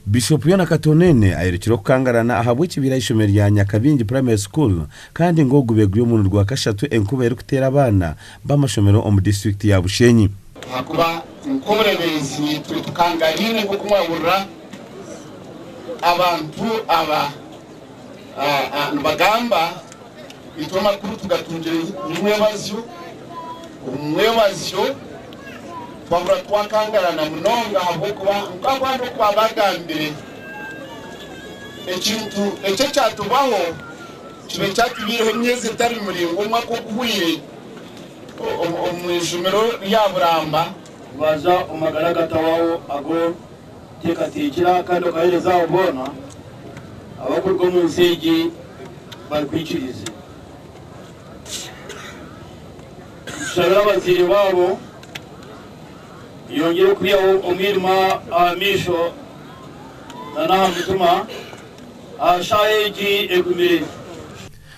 Bishop Yona Katoneene ayerekire okukangarana ahabw'ekibiira aheishomero rya Nyakabingi Primary School kandi ngu ogu begwire omurundi gwa kashatu enkuba erikuteera abaana b'amashomero omu district ya Bushenyi. Ahakuba nk'obureeberezi naitwe tukangariine nk'oku mwahurira abantu aba nibagamba. Itwe amakuru tugatungire omu mwebazyo, omu mwebazyo twahurira twakangarana munonga ahabw'okuba nk'oku abandi oku baabagambire, ekintu eki ekyatubaho kibe kyatubaireho emyezi etari miraingwa omwaka oguhwaire omu ijumiro rya Buramba, baaza omu magara gatawaho ago Teekateekyera kandi okaheereze abo boona abarikuruga omu nsi egi barikwikirize. Nitushabira abazaire baabo oyongyere kwihaho omwirima aha maisho nana aha mutima aha shaaha egi egumire.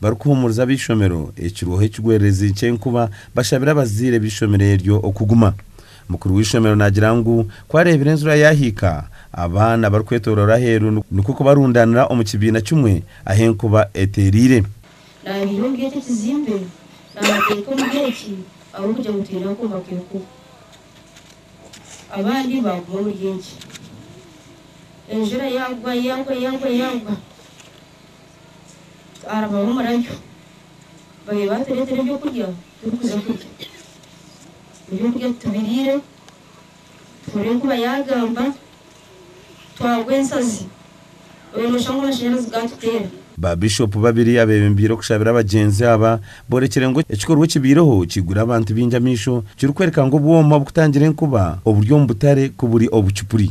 barikuhuumuriza ab'eishomero ekirweho ekigwererezi ky'enkuba bashabire abazaire b'eishomero eryo okuguma. Mukuru w'eishomero naagira ngu ku areebire enjura yaahika, abaana barikwetoroora aheeru nikwo kubarundaanira omu kibiina kimwe ahu enkuba eteereire. Naabiire omuri eki ekizimbe naabateeka omuri eki ahabw'okugira ngu twine akooma k'enkuba. Abandi baaguma omuri eki. Enjura yaagwa, yaagwa, yaagwa, yaagwa. Twaarabaho omurabyo, babaire baatureetera eby'okurya turikuza kurya. Eby'okurya titubiriire, tuhurira enkuba yaagamba, twagwa ensazi, oyo nooshusha ngu amashanyarazi gaatuteera. Baabishopu babiri abeebembeire okushabira abagyenzi aba, boorekire ngu ekikorwa ekibaireho kiigwire abantu baingi amaisho, kirikworeka ngu obwoma obukutangira enkuba oburi omu butare ku buri obucupuri.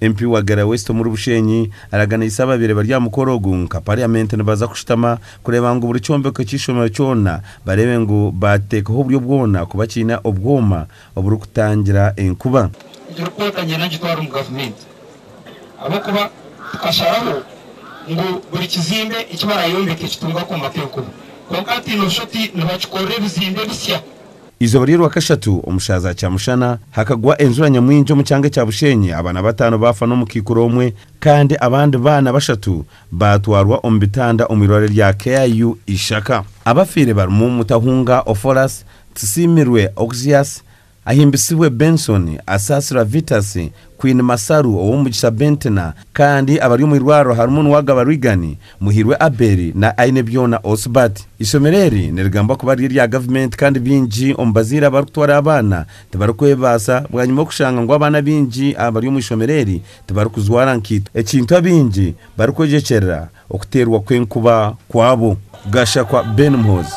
Emp wa Gera West omuri Bushenyi araganiise ababaire bari aha mukoro ogu nka parliament nibaza kushutama kureeba ngu buri kyombeko ky'eishomero kyona bareebe ngu baateekaho oburyo bwona kuba kiine obwoma oburikutangira enkuba. Niturikwekanya nagitwara omu gavumenti ahabw'okuba tukasharaho ngu buri kizimbe eki barayombeke kitunge akooma k'enkuba kwonka hati noshusha oti nibakikorera ebizimbe bisya Eizooba ry'orwakashatu omu shaaha za kyamushana hakagwa enjura nyamwingi omu kyanga ekya Bushenyi abaana bataano baafa n'omukaikuru omwe kandi abandi baana bashatu baatwarwa omu bitanda omu irwariro rya KIU Ishaka. Abafiire barimu Mutahunga Ophoras, Tusiimirwe Oxias, Ahimbisibwe Benson, Asaasirwa Vitus, Queen Masaru, Owomugisha Bentina kandi abari omu irwariro harimu Nuwagaba Reagan, Muhirwe Abel na Ainebyona Osbert. Eishomero eri nirigambwa kuba riri erya gavumenti kandi baingi omu bazaire abarikutwara abaana tibarikwebaasa bwanyima okushanga ngu abaana baingi abari omu ishomero eri tibarikujwara nkaito ekintu abaingi barikwegyekyerera okuteerwa kw'enkuba kwabo. Gashakwa Ben Muhoozi.